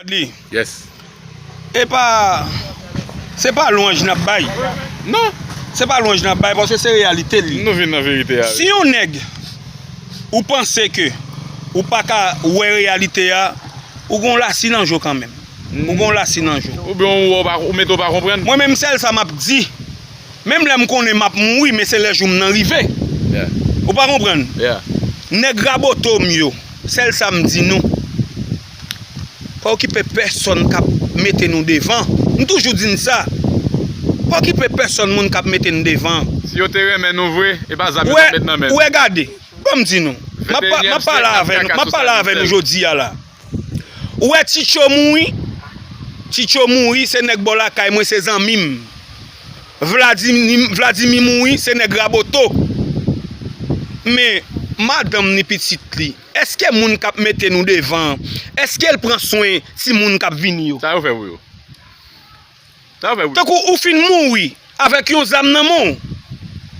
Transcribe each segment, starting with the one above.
Wadly. Yes. Epa se pa lwanj nap bay. Non. Se pa lwanj nap bay paske se reyalite li. Nou vin nan verite a. Si yon nèg ou panse ke ou pa ka wè reyalite a, ou gon lasi nan je w kan menm. Ou gon lasi nan je w. Ou byen ou wè ou mete ou pa konprann. Mwen menm sèl sa map di, menm lè m konnen map mouri men se lè jou m nan rive. Yeah. Ou pa konprann. Yeah. Nèg Raboto m yo, sèl sa m di nou. Pa okipe pèsòn k ap mete nou devan. M toujou di n sa. Pa okipe pèsòn moun k ap mete n devan. Si yo te renmen nou vre, e pa zam yo t ap met nan men nou. Ou wè gade, ban m di nou. M ap pale avè nou, m ap pale avè nou jodi a la. Ou wè Ti Cho mouri, Ti Cho mouri se nèg bò lakay mwen, se zanmi m. Vladimi mouri se nèg Raboto. Men, madanm ni pitit li. Eske moun kap mete nou devan an eske l pran swen ti moun kap vini yo. Sa yo fè pou yo. Sa yo fè pou yo. Tankou ou fin mouri avèk yon zam nan men w,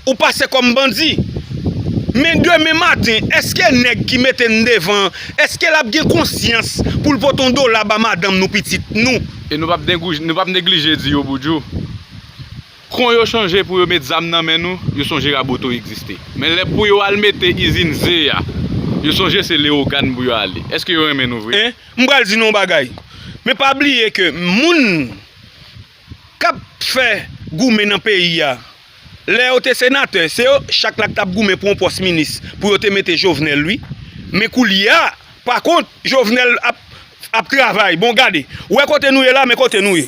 ou pase kòm bandi. Men demen maten eske nèg ki mete n devan an eske lap gen konsyans pou l pote yon dola ba madanm nou pitit nou. E nou pap neglije di yo boudjou. Kon yo chanje pou yo met zam nan men nou, yo sonje Raboto egziste. Men lè pou yo al mete izin ze a, yo sonje se Lewogàn pou yo ale. Eske yo renmen nou vre? E, m pral di nou yon bagay. Men pa bliye ke moun k ap fè goumen nan peyi a, lè yo te senatè, se yo chak la ki t ap goumen pou yon pòs minis pou yo te mete Jovenel wi. Men koulye a, pa kont, Jovenel ap travay. Bon gade, ou wè kote nou ye la, men kote nou ye.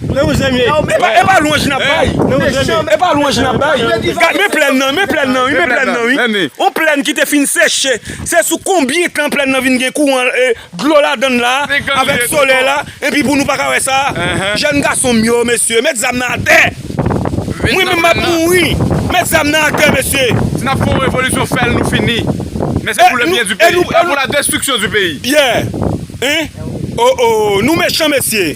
Men yon zen ye. E pa lwanj n ap bay. Men yon zen ye. E pa lwanj n ap bay. Gad men plèn nan. Men plèn nan wi. Men plèn nan wi. Yon plèn ki te fin seche. Se sou konbyen tan plèn nan vin gen kouran e dlo ladan l la avèk solèy la epi pou nou pa ka wè sa. Jèn gason m yo mesye met zam nan atè. Mwen menm m ap mouri. Met zam nan atè mesye. Si n ap fè yon revolisyon fè l nou fini. Men se pou le byen di peyi. E pou la destriksyon di peyi. Yeah. Hein. Oh oh. Nou mechan mesye.